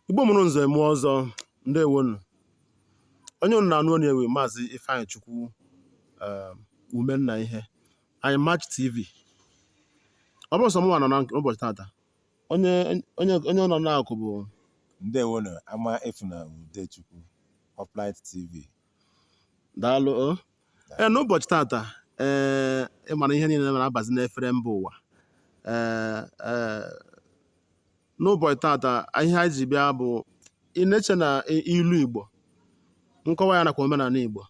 igbo mụrụ nze mụọ ọzọ ndewonu onye unu na-anụ onu e wụ maazị ifeanyịchukwu um, umenna iheanyị match tv ọ bụrọ sọ mụnwa nọ na ụbọchị tata onye onye onye ọ nọ na-akụ bụ ndewonu amaefuna udechukwu uplight tv daalụ o ee n'ụbọchị tata ee ị mara ihe niile na-abazi n'efere mba ụwa ee ee n'ụbọchị tata ihe anyị ji bịa bụ ị na-eche na i- ilu igbo nkọwa ya nakwa omenala igbo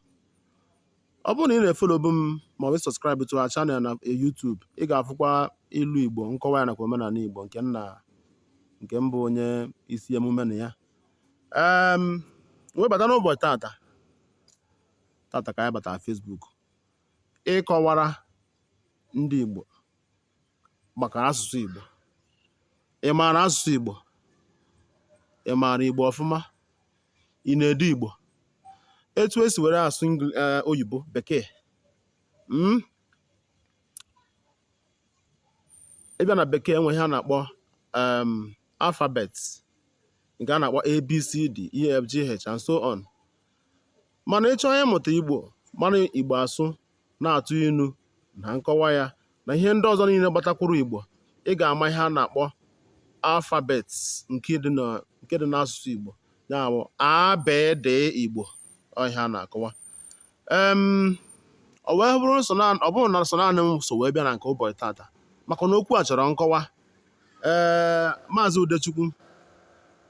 ọ bụrụ na ị na-efolobu m ma ọ bụ subscribe to our channel na YouTube ị ga-afụkwa ilu igbo nkọwa ya nakwa omenala igbo nke nna nke m bụ onye isi emume na ya um wee bata n'ụbọchị tata tata ka anyị batara Facebook ịkọwara ndị Igbo maka asụsụ Igbo ị maara asụsụ Igbo ị maara Igbo ọfụma ị na-ede Igbo etu esi were asụ Engli- eh, oyibo bekee mm? ị bịa na bekee e nwe ihe a na-akpọ um alphabet nke a na-akpọ abcd efgh and so on mana ị chọọ ịmụta igbo mara igbo asụ na-atụ inu na nkọwa ya na ihe ndị ọzọ niile gbatakwuru igbo ị ga-ama ihe a na-akpọ alphabet nke dị na nke dị n'asụsụ igbo ya bụ abd igbo ọ ihe a na-akọwa ọ wee bụrụ ọ bụrọ na sọ naanị m so wee bịa na nke ụbọchị tata maka na okwu a chọrọ nkọwa ee maazị Udechukwu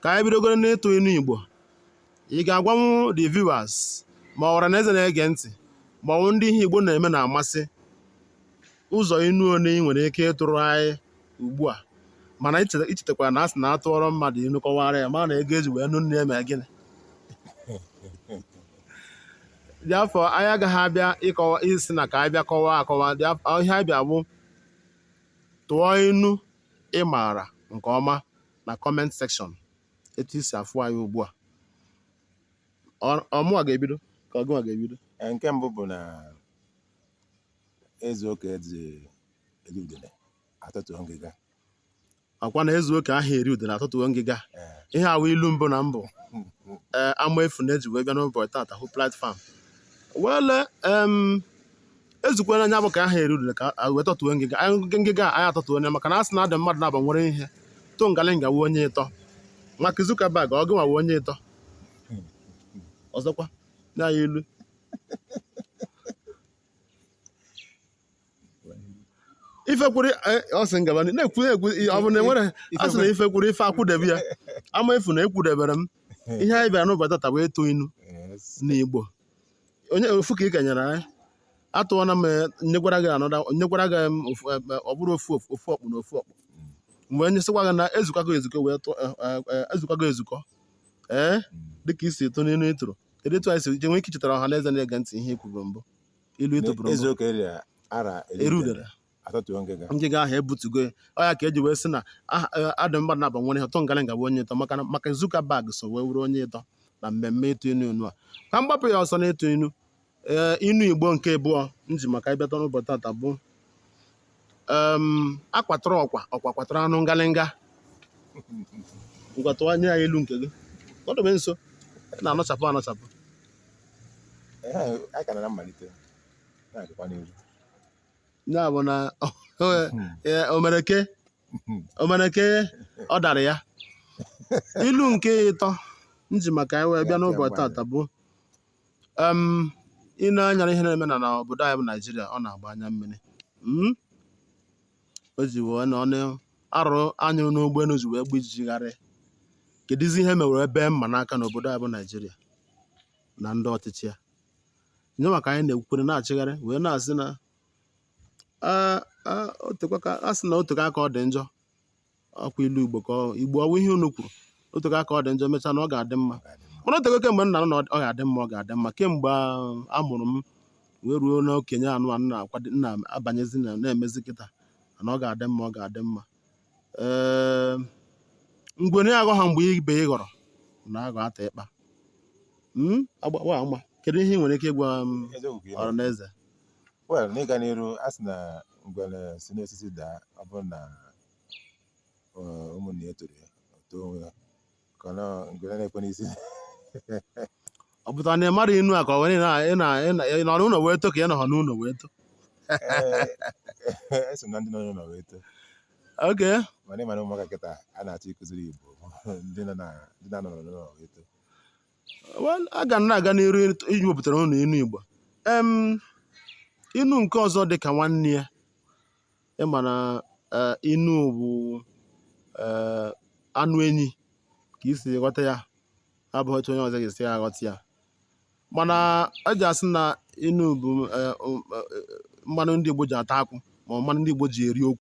ka anyị bidogoro n'ịtụ inu Igbo ị ga-agwanwu the viewers ma ọ wụ ọra na eze na-ege ntị ma ọ bụ ndị ihe Igbo na-eme na-amasị ụzọ inu one ị nwere ike ịtụrụ anyị ugbu a mana i cheta- i chetakwara na a sị na a tụọrọ mmadụ inu kọwara ya ma na ego e ji wee nụ nne ya mere gịnị therefore anyị agaghị abịa ịkọwa ị sị na ka anyị bịa kọwaa akọwa therefore ihe anyị bịa bụ tụọ inu ị maara nke ọma na comment section etu i si afụ anyị ugbu a Ọ- ọ mụwa ga-ebido ka ọ gịnwa ga-ebido Ee, nke mbụ bụ na E zuo ka aha eri udele a tọtuo ngịga. ọ kwa na e zuo ka aha eri udele a tọtuo ngịga Ee. ihe a wụ ilu mbụ na mbụ ee Amaefuna ji wee bịa n'ụbọchị tata hụ platform wele em e zukwana nya bụ ka aha eri udele ka a wee tọtuo ngịga Anyị ngị- ngịga a, anyị atọtuo onye maka na a sị na a dị mmadụ naabọ nwere ihe to ngalinga wụ onye ịtọ Mark Zuckerberg ọ gịnwa wụ onye ịtọ ọzọkwa na ya ilu ife kwụrụ eh, ọ sị m gaba n'ihu. na-ekwu na-ekwu ọ bụ na enwere a sị na ife kwụrụ ife akwụdebe ya Amaefuna akwụdebere m ihe anyị bịara n'ụbọchị tata bụ ịtụ inu n'igbo onye ofu ka ị ka nyere anyị atụọna m eh, nyekwara gị anọda nyekwara gị em, ofu- em, eh, ọ bụrụ ofu ofu- ofu ọkpụ na ofu ọkpụ mgbe onye sịkwa gị na ezukwago ezukọ wee tụọ eh, eh, eh, ezukwago ezukọ ee dịka i si tụ n'inu ị tụrụ kedu etu anyị si je nwee ike ichetara ọha na eze na-ege ntị ihe i kwuru mbụ ilu ị tụbụrụ mbụ eziokwu eri a na-eri udele atọtuo ngịga ngịga ahụ ebutugo ya ọ ya ka eji wee sị na aha eh, adị mmadụ naabọ nwere ihe ụtọ ngalịnga bụ onye ịtọ maka na maka Zuckerberg so wee wụrụ onye ịtọ na mmemme ịtụ inu inu a ka m gbapụ ya ọsọ n'ịtụ inu ee inu igbo nke abụọ m ji maka ịbịata n'ụbọchị tata bụ um a kwatara ọkwa ọkwa kwatara anụ ngalịnga ngwa tụọ nye ya ilu nke gị nọdụbe nso ị na-anọchapụ anọchapụ Ehe, anyị ka nọ na mmalite na-agakwa n'ihu ya bụ na ee, omereke omereke ọ dara ya ilu nke ịtọ m ji maka ya wee bịa n'ụbọchị tata bụ um i nee anya n'ihe na-eme na na obodo anyị bụ naijiria ọ na-agba anya mmiri Mm? o ji wee na ọnụ arụ a nyụrụ n'ụgbọelu ji wee gba ijiji gharị kedụzi ihe mewere ebe mma n'aka n'obodo anyị bụ naijiria na ndị ọchịchị ya nye maka anyị na-ekwukwere na-achịgharị wee na-asị na "Ah, ah, o tekwa ka- a sị na o teka aka ọ dị njọ ọkwa ilu igbo ka ọ- igbo ọ wụ ihe unu kwuru o teka aka ọ dị njọ mechaa na ọ ga-adị mma mana o tego kemgbe nna na ọ ga-adị mma ọ ga-adị mma kemgbe a- a mụrụ m wee ruo n'okenye anụ a na-akwado na-abanyezi na na-emezi kịta na ọ ga-adị mma ọ ga-adị mma ee ngwere aghọha mgbe ibe ya ghọrọ na-aghọ ata ịkpa Mm, agbawa ama kedu ihe ị nwere ike ịgwa eziokwu ka ị ọra na-ekwu. na eze Well, n'ịga n'iru a sị na ngwere si n'osisi daa ọ bụrụ na eh, ụmụnne ya etoro ya o too onwe ya ka ọ nọ- ngwere na-ekwe n'isi ọ pụtara na ị mara inu a ka ọ were ị na- ị na- ị na- ị nọ n'ụlọ wee to ka ị nọghọ n'ụlọ wee to Eh, eso m na ndị nọ n'ụlọ wee too okay mana ị ma na ụmụaka kịta a na-achọ ịkụziri igbo ndị nọ na ndị na-anọ n'ụlọ wee too Well, a ga na-aga n'iru iwepụtara unu inu Igbo. Em, inu nke ọzọ dị ka nwanne ya. Ị ma na eh, inu bụ eh, anụ enyi ka i si ghọta ya. Abụghị otu onye ọzọ ga-esi aghọta ya. Mana e ji asị na inu bụ eh, um, eh, mmanụ ndị Igbo ji ata akwụ ma ọ mmanụ ndị Igbo ji eri okwu.